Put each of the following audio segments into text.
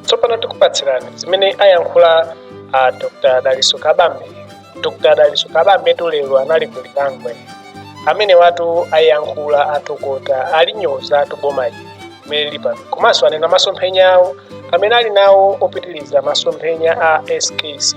tsopano tikupatsirani zimene ayankhula a dr daliso kabambe dr daliso kabambetu lero anali ku lilangwe amenewatu ayankhula atokota alinyozatu boma ili limene lili pano komanso anena masomphenya awo amene ali nawo opitiriza masomphenya a skc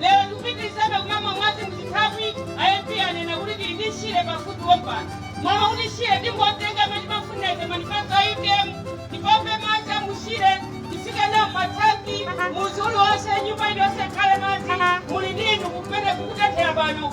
Lero tikupitilizabe kumamwa madzi mu chithaphwi, a MP anena kuti tili ndi Shire pafupi pompano. M'malo mwakuti Shire tingotenga m'mene timafunira ife manifesto a utm, tipompe madzi a mu Shire titsike nawo m'ma thanki, mudzi uliwonse, nyumba iliyonse ikhale madzi, muli ndi inu kumene kukutenthera pano.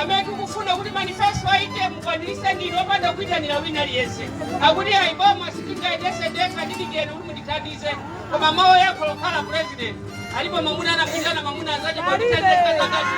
amene tikufuna kuti manifesto a utm mukwanilise ndinu opanda kuitanila wina aliyense akuti ayi boma sitingayendese ndekha ndidikireni kuti mundithandize koma mawu oyankhula kukhala president alipo mamuna anamwitana mamuna anzache pakutanzekazakazi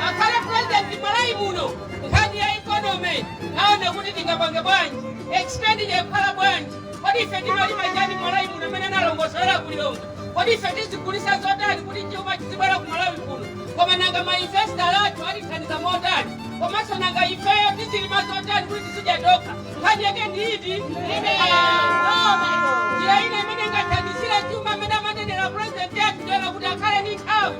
akhale president mmalawi muno nkhani ya economy aone kuti tingapange bwanji expenditure ikhala bwanji kodi ife timalima chani mmalawi muno mmene analongosolera ku lilongwe kodi ife tizigulisa zotani kuti chuma chizibwera ku malawi kuno koma nanga mainvestor athu atithandiza motani komanso nanga ifeyo tizilima zotani kuti tizidya tokha nkhani yake ndi iti njira ina imene ingathandizire chuma amene amanenera president athu toera kuti akhale ndi nthawi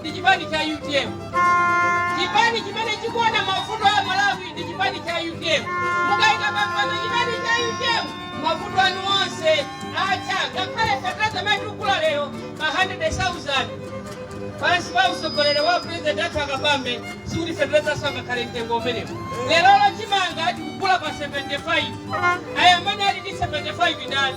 ndi chipani cha utm chipani chimene chikuona mavuto a malawi ndi chipani cha utm mukayika pampando chipani cha utm mavuto anu onse atha ngakhale fertilizer amene tikugula lero pa 100,000 pansi pa utsogoleri wa president athu a kabambe sikuti fertilizer sangakhale mtengo umenewo lerolo chimanga tikugula pa 75 aya amene ali ndi 75 ndani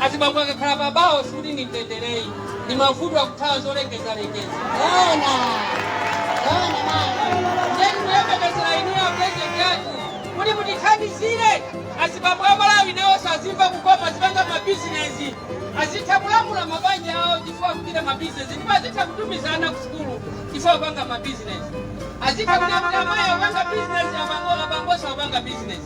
Azibambo akakhala pa bawo sikuti ndi mtendere ayi, ndi mavuto akuthawa zolengezalengeza. Zoona zoona mayi, ndiye tikuyembekezera inuyo a president athu kuti mutithandizire azibambo a Malawi nawonso azimva kukoma, azipanga mabizinezi, azitha kulamula mabanja awo chifukwa akuchita mabizinezi, ndipo azitha kutumiza ana ku sukulu chifukwa akupanga mabizinezi, azitha kulamula amayi akupanga bizinezi, abambo abambonso akupanga bizinezi.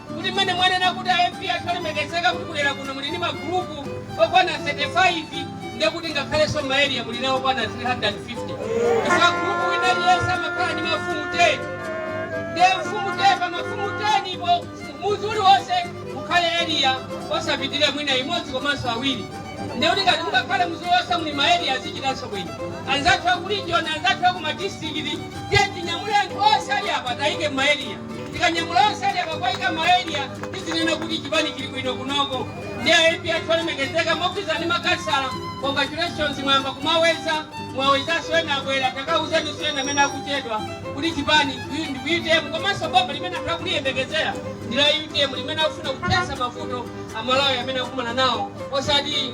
kuti mmene mwanena kuti a MP athu olemekezeka kuti kudera kuno muli ndi ma group okwana 35 ndiye kuti ngakhalenso ma area muli nawo okwana 350 chifukwa group wina aliyense amakhala ndi mafumu 10 ndiye mfumu 10 pa mafumu 10 po muzi uliwonse mukhale area osapitirira mwina imodzi komanso awiri ndiye kuti ngati mukakhale muzi uliwonse muli ma area azichitanso bwino anzathu akulijoni anzathu akumadistrikiti ndiye tinyamule anthu onse ali apa tayike m'ma area tikanyamula onse ali apa kuwaika maeria tizinena kuti chipani chili bwino kunoko ndi a mp athu olemekezeka mogwirizana ndi makhansala congratulations mwayamba kumaweza mwawezaso ena abwera takawuzeniso ena amene akuchedwa kuti chipani ndi utm komanso boma limene anthu akuliyembekezera ndi la utm limene akufuna kuthesa mavuto amalawi amene akumana nawo osati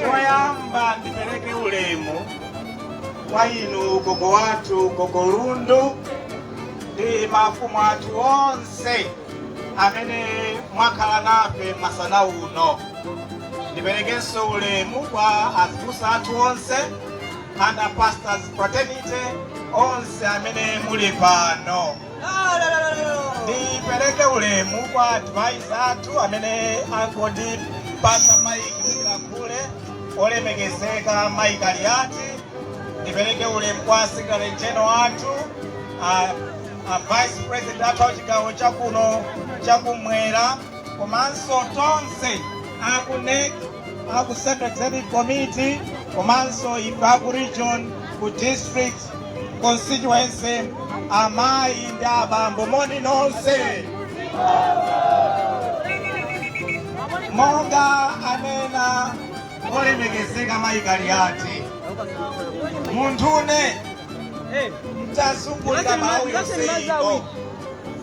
Choyamba ndipereke ulemu kwa inu gogo wathu gogo Lundu ndi mafumu athu onse amene mwakhala nafe masana uno. Ndiperekenso ulemu kwa azibusa athu onse and a pastors fraternity onse amene muli pano ndipereke ulemu kwa advisor athu amene angondipasa maiki ndilankhule olemekezeka mayi kaliati ndipereke ulemu kwa secretary general athu a, a vice president athu a chigawo chakuno chakumwera komanso tonse a ku NEC, a ku Central Executive Committee, komanso ife a ku region, ku district, constituency, amayi ndi abambo moni nonse. Monga anena olemekezeka mayi Kaliati, munthune ntazungulira Malawi yonse ino.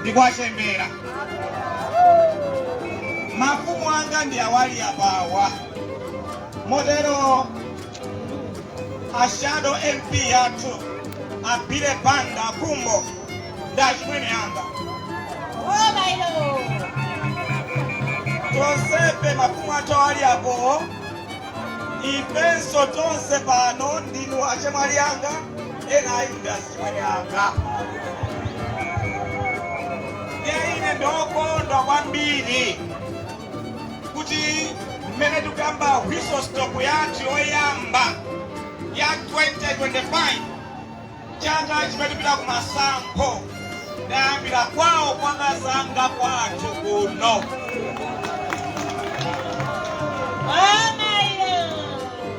ndi kwa chembera mafumu anga ndi awali apawa motero a shadow mp athu abile banda kumbo ndi achimwene anga tonsefe mafumu athu awali apowo ifenso tonse pano ndinu achemwali anga ena ayi ndi Mwene anga. Ndiye ine ndokondwa kwambiri kuti mmene tikuyamba whistle stop yathu yoyamba ya 2025 chaka chimene tipita ku masankho ndayambira kwawo kwa akazanga kwathu kuno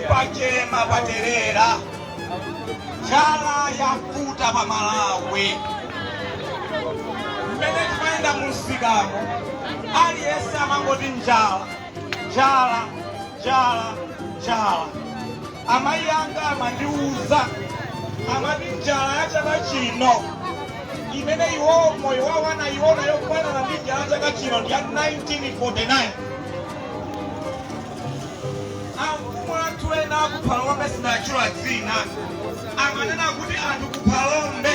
Pachema paterera, njala yakuta pa Malawi. Mmene timayenda mumsikamu, aliyense amangoti njala, njala, njala, njala. Amayi anga amandiuza amati njala ya chaka chino imene iwo moyo wawo anayiona yofanana ndi njala ya chaka chino ndi ya 1949 Amfumu athu ena aku Phalombe sinatchula dzina amanena kuti anthu ku Phalombe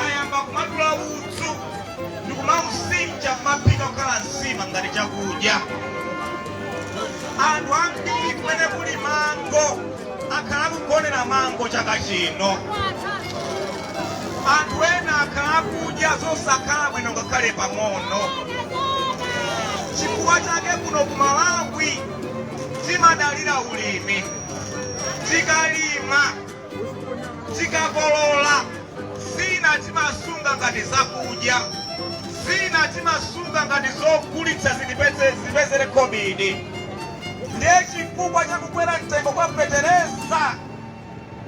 ayamba kumadula udzu ndikumausinja kumaphika kukhala nsima ngati chakudya. Anthu ambiri kumene kuli mango. akhala akugonera mango chaka chino. Anthu ena akhala akudya zosakhala bwino ngakhale pang'ono. Chifukwa chake kuno ku Malawi timadalira ulimi. Tikalima, tikakolola, zina timasunga ngati zakudya, zina timasunga ngati zogulitsa zitipeze- zitipezere khobidi. Ndiye chifukwa cha kukwera mtengo kwa fetereza,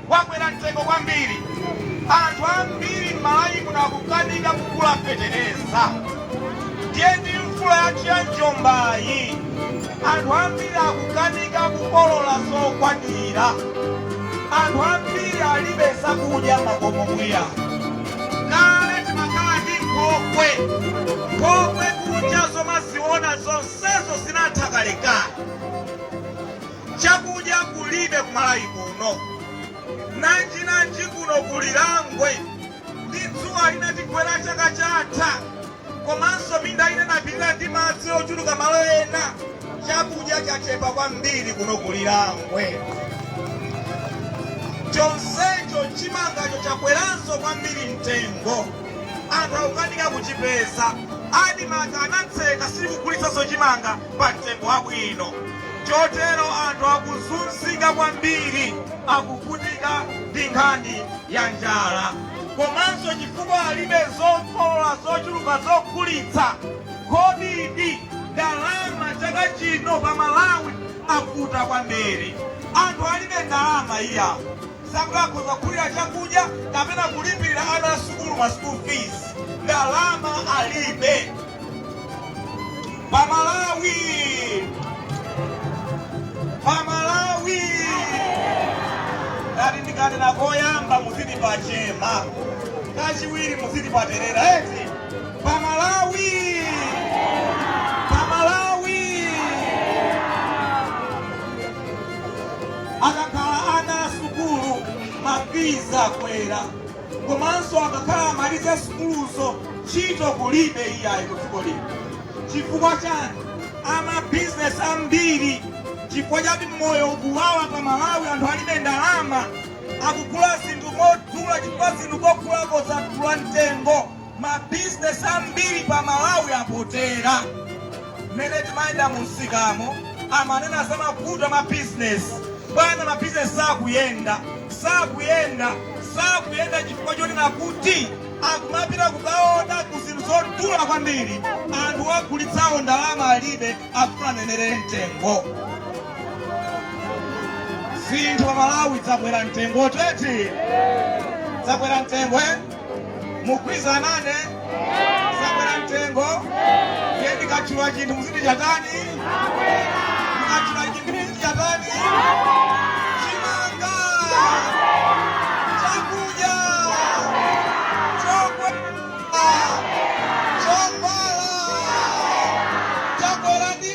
wakwera mtengo kwambiri, anthu ambiri m'Malawi muno akukanika kugula fetereza. Ndiye ndi mvula yathu ya njombayi, anthu ambiri akukanika kukolola zokwanira, anthu ambiri alibe zakudya m'makomomu iya. Kale timakhala ndi nkhokwe, nkhokwe kunja zomaziona zonse. Zonsezo zinatha kalekale. Chakudya kulibe ku Malawi kuno. Nanjinanji kuno ku Lirangwe ndi dzuwa linatigwera chaka chatha komanso minda ina inapilira ndi madzi ochuluka malo ena. Chakudya chachepa kwambiri kuno ku Lirangwe. Chonsecho chimangacho chakweranso kwambiri mtengo. Anthu akukanika kuchipeza. Admarc anatseka sikugulitsanso chimanga pa mtengo wabwino chotero anthu akuzunzika kwambiri. Akuvutika ndi nkhani ya njala komanso chifukwa alibe zokolola zochuluka zogulitsa. Khobidi, ndalama chaka chino pa Malawi yavuta kwambiri. Anthu alibe ndalama iya. zakuti akhoza kugulira chakudya kapena kulipirira ana asukulu ma school fees ndalama alibe pamalawi pamalawi ngati ndikanena koyamba muziti pachema kachiwiri muziti paterera eti pamalawi Akakhala ana a sukulu ma fees akwera komanso akakhala amaliza sukuluzo ntchito kulibe iyayi ku dziko lino. Chifukwa chani? A ma business ambiri chifukwa choti moyo ukuwawa pa Malawi anthu alibe ndalama akugula zinthu modula chifukwa zinthu kogulako zadula mtengo. Ma business ambiri pa Malawi apotera. Mmene timayenda mu msikamo amanena za mavuto a ma business. Bwana ma business sakuyenda, sakuyenda, sakuyenda chifukwa chonena kuti akumapita kukaoda ku zinthu zodula kwambiri. Anthu ogulitsawo ndalama alibe afuna anenerere mtengo. Zinthu pa Malawi zakwera mtengo teti. Zakwera mtengo eh? mugwizanane zakwera mtengo ndiye ndikatchula chinthu muziti chatani ndikatchula chinthu muziti chatani chimanga chakudya chakwera chovala chakwera ndi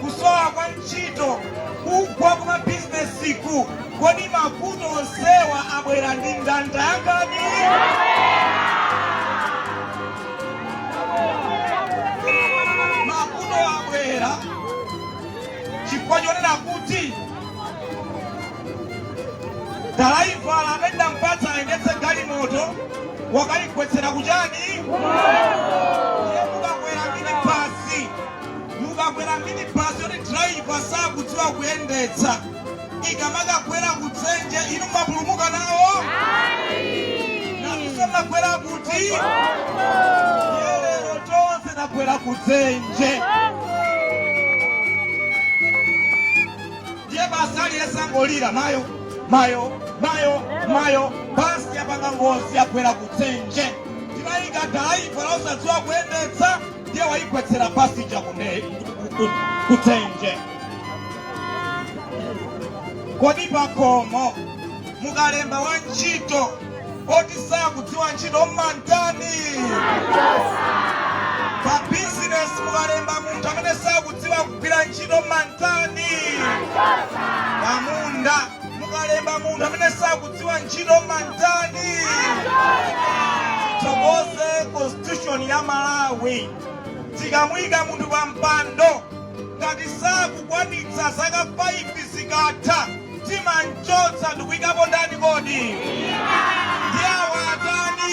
kusowa kwa ntchito, kugwa kwa mabizinesiku, kodi mavuto onsewa abwera ndi ndanda ya ndani? Mavuto abwera chifukwa chonena kuti dalaivala amene tinampatsa ayendetse galimoto wakaigwetsera kuchani Mukakwera minibus yoti driver sakudziwa kuyendetsa, ikamakagwera kudzenje, inu mumapulumuka nawo? Nanunso mmagwera kuti? Ndiye lero tonse tagwera kudzenje. Ndiye basi aliyense angolira, mayo, mayo, mayo, mayo, basi yapanga ngozi, yagwera kudzenje. Tinayika driver wosadziwa kuyendetsa. ndiye waigwetsera basi ija kudze kudzenje kodi pakhomo mukalemba wa ntchito oti sakudziwa ntchito mmamtani pa bizinesi mukalemba munthu amene sakudziwa kugwira ntchito mmamtani pamunda mukalemba munthu amene sakudziwa Dziwa ntchito mumatani tithokoze constitution ya malawi tikamuyika munthu pa mpando ngati sakukwanitsa zaka 5 zikatha timamchotsa ndikuyikapo ndani kodi ndi awa atani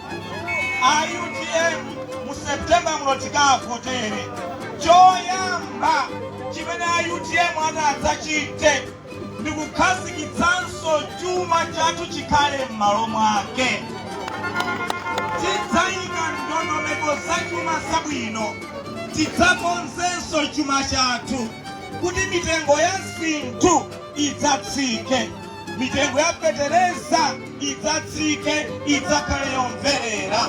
UTM mu September muno tikavotere. Choyamba chimene a utm atadzachite ndi kukhazikitsanso chuma chathu chikhale m'malo mwake. Tidzayika ndondomeko za chuma zabwino. Tidzakonzenso chuma chathu kuti mitengo ya zinthu idzatsike. mitengo ya fetereza idzatsike idzakhale yomverera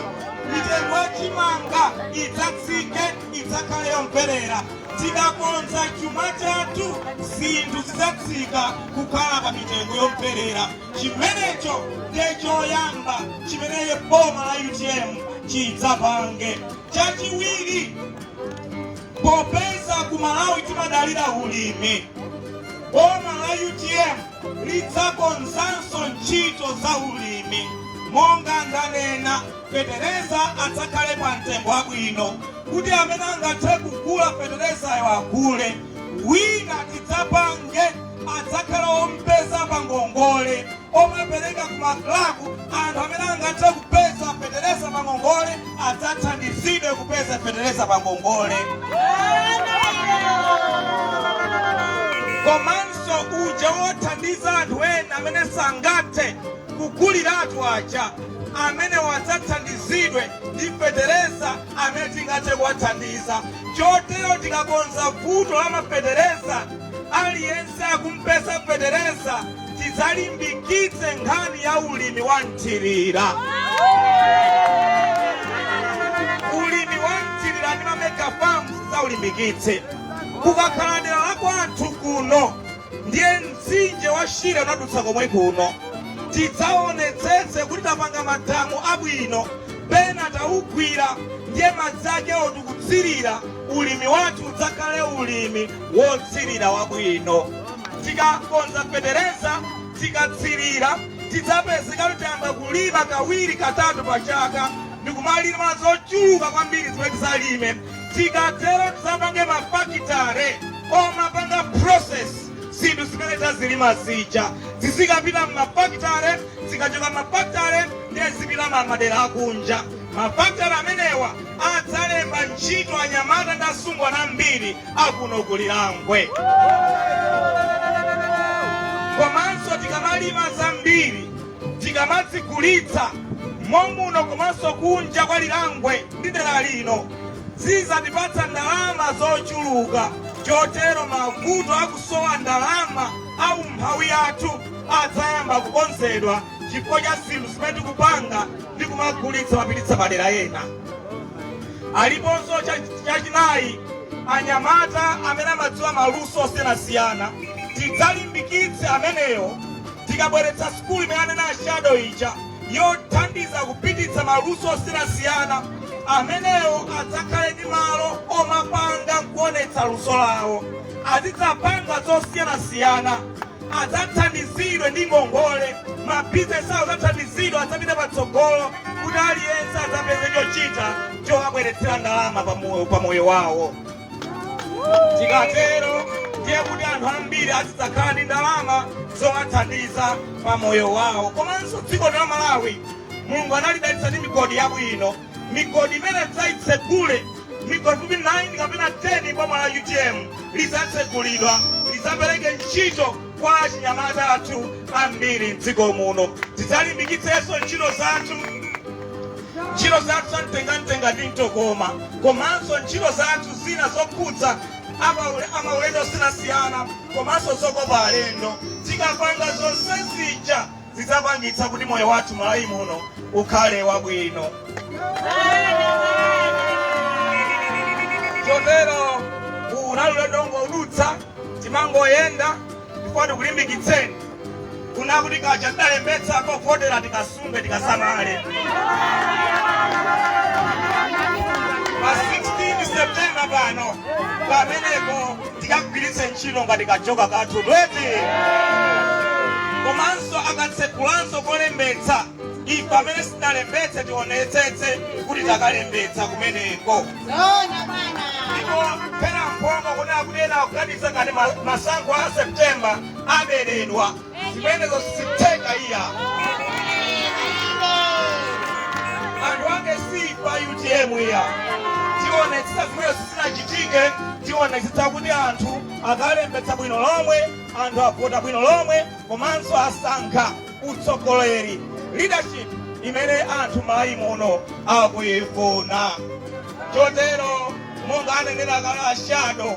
mitengo ya chimanga idzatsike idzakhale yomverera tikakonza chuma chathu zinthu zidzatsika kukhala pa mitengo yomverera chimenecho nde choyamba chimene boma la utm chidzapange chachiwiri popeza ku malawi timadalira ulimi Boma la utm lidzakonzanso ntchito za ulimi monga ndanena fetereza adzakhale pa mtengo wabwino kuti amene angathe kugula feterezayo agule wina tidzapange adzakhala ompeza pa ngongole omapereka ku maklabu anthu amene angathe kupeza fetereza pa ngongole adzathandizidwe kupeza fetereza pa ngongole komanso uja wothandiza anthu ena amene sangathe kuguliratu aja amenewo adzathandizidwe ndi fetereza amene tingathe kuwathandiza chotero tikakonza vuto la mafetereza aliyense akumpeza fetereza tidzalimbikitse nkhani ya ulimi wa mthirira. Ulimi wa mthirira ndi mamega farms tidzaulimbikitse. Kukakhala dera la kwathu kuno ndiye mtsinje wa Shire unadutsa komwe kuno, tidzaonetsetse kuti tapanga madamu abwino pena taugwira ndiye madzi ake oti kutsirira ulimi wathu udzakhale ulimi wotsirira wabwino. Tikakonza fetereza tikatsirira tidzapezeka kuti tiyamba kulima kawiri katatu pa chaka ndikumalima zochuluka kwambiri zimene tidzalime. Tikatero tidzapange mafakitare omapanga process zinthu zimene tazilima zija zizikapita m'mafakitare zikachoka m'mafakitare ndiye zipita m'madera akunja. Mafakitare amenewa adzalemba ntchito anyamata ndi asungwana ambiri. akuno ku Lilangwe. Komanso tikamalima zambiri tikamazigulitsa momuno komanso kunja kwa Lilangwe ndi dera lino zidzatipatsa ndalama zochuluka, chotero mavuto akusowa ndalama a umphawi athu adzayamba kukonzedwa. chifukwa cha zinthu zimene tikupanga ndi kumagulitsa mapititsa madera ena aliponso chachinayi anyamata amene amadziwa maluso osiyanasiyana tidzalimbikitse amenewo tikabweretsa sikulu imene anena ashado ija yothandiza kupititsa maluso osiyanasiyana amenewo adzakhale ndi malo omapanga nkuonetsa luso lawo azidzapanga zosiyanasiyana adzathandizidwe ndi ngongole, mabizinesi awo adzathandizidwe, adzapite patsogolo kuti aliyense adzapeze chochita chowabweretsera ndalama pa moyo wawo. Tikatero ndiye kuti anthu ambiri azidzakhala ndi ndalama zowathandiza pa moyo wawo. Komanso dziko la Malawi Mulungu analidalitsa ndi migodi yabwino. Migodi imene tidzaitsegule, migodi pafupi 9 kapena 10 m'boma la utm, lidzatsegulidwa. Lidzapereke ntchito kwa achinyamata athu ambiri m'dziko muno. Tidzalimbikitsenso ntchito zathu za mtengamtenga ndi mtokoma komanso ntchito zathu zina zokhudza amaulendo osiyanasiyana komanso zokopa alendo. Tikapanga zonse zija. zidzapangitsa kuti moyo wathu Malawi muno ukhale wabwino. Chotero uwu unali ulendo wongodutsa timangoyenda ndipo tikulimbikitseni kunena kuti kaja tidalembetsa kovotera tikasunge tikasamale pa 16 septemba pano pamenepo tikagwiritse ntchito ngati kajoka kathu tweti komanso akatsegulanso kolembetsa ife amene sitinalembetse tionetsetse kuti takalembetsa kumeneko ndipo pena mphongo kunena kuti ena akuganiza ngati masankho a september aberedwa zimenezo sizitheka iya anthu anga si pa utm iya tionetsetsa zimenezo zisachitike tionetsetsa kuti anthu akalembetsa bwino lomwe anthu avota bwino lomwe komanso asankha utsogoleri leadership imene anthu mmalawi muno akuyifuna chotero monga anenera kale ashado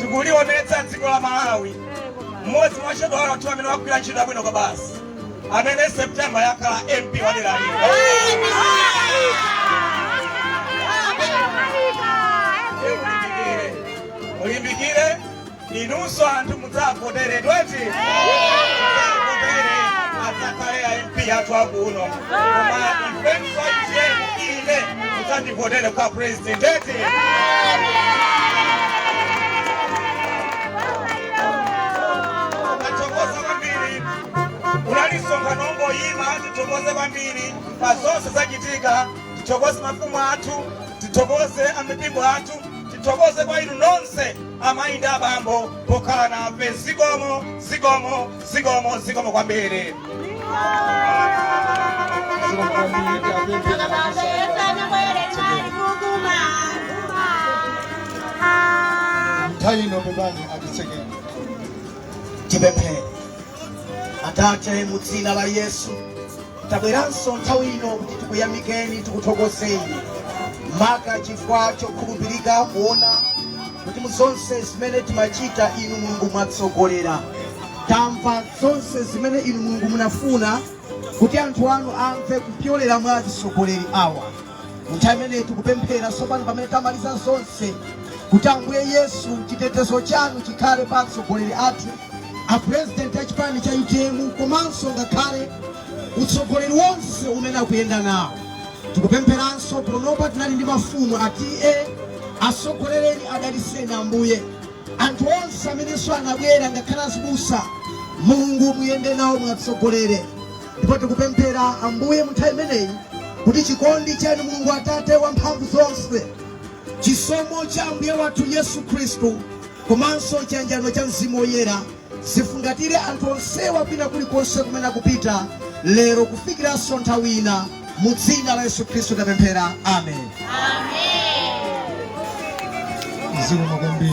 tikulionetsa dziko la malawi mmodzi mwa ashado athu amene wagwira ntchito yabwino kwabasi amene septemba akhala mp wa dera lino mulimbikire inunso anthu Mudzavotere eti. Mudzavotere. Adzakhale a MP athu akuno. Koma ifenso utm ine mudzandivotere kwa president eti. Tathokoza kwambiri. Unali msonkhano wongoyima tithokoze kwambiri pa zonse zachitika tithokoze mafumu athu tithokoze amipingo athu Tithokoze kwa inu nonse amayi ndi abambo pokhala nafe. Zikomo, zikomo, zikomo, zikomo kwambiri. nthawi ino tipeze atitsekere Tipemphere. Atate, mu dzina la Yesu, Tabweranso nthawi ino kuti tikuyamikeni, tikuthokozeni maka chifukwa chokhulupirika kuona kuti mu zonse zimene timachita inu mulungu mwatsogolera tamva zonse zimene inu mulungu munafuna kuti anthu anu amve kupyolera mwa atsogoleri awa nthawi imene tikupemphera tsopano pamene tamaliza zonse kuti ambuye yesu chitetezo chanu chikhale pa atsogoleri athu A president a chipani cha utm komanso ngakhale utsogoleri wonse umene akuyenda nawo tikupempheranso panopa tinali ndi mafumu atate atsogolereni adaliseni ambuye anthu onse amenenso anabwera ngakhale azibusa mulungu muyende nawo muwatsogolere ndipo tikupemphera ambuye mu nthawi imeneyi kuti chikondi chanu mulungu atate wamphamvu zonse Chisomo cha Ambuye wathu Yesu Khristu komanso chiyanjano cha Mzimu Woyera zifungatire anthu onsewa kwina kulikonse kumene akupita lero kufikiranso nthawi ina. Mu dzina la Yesu Khristu tapemphera, amen. Zikomo kwambiri.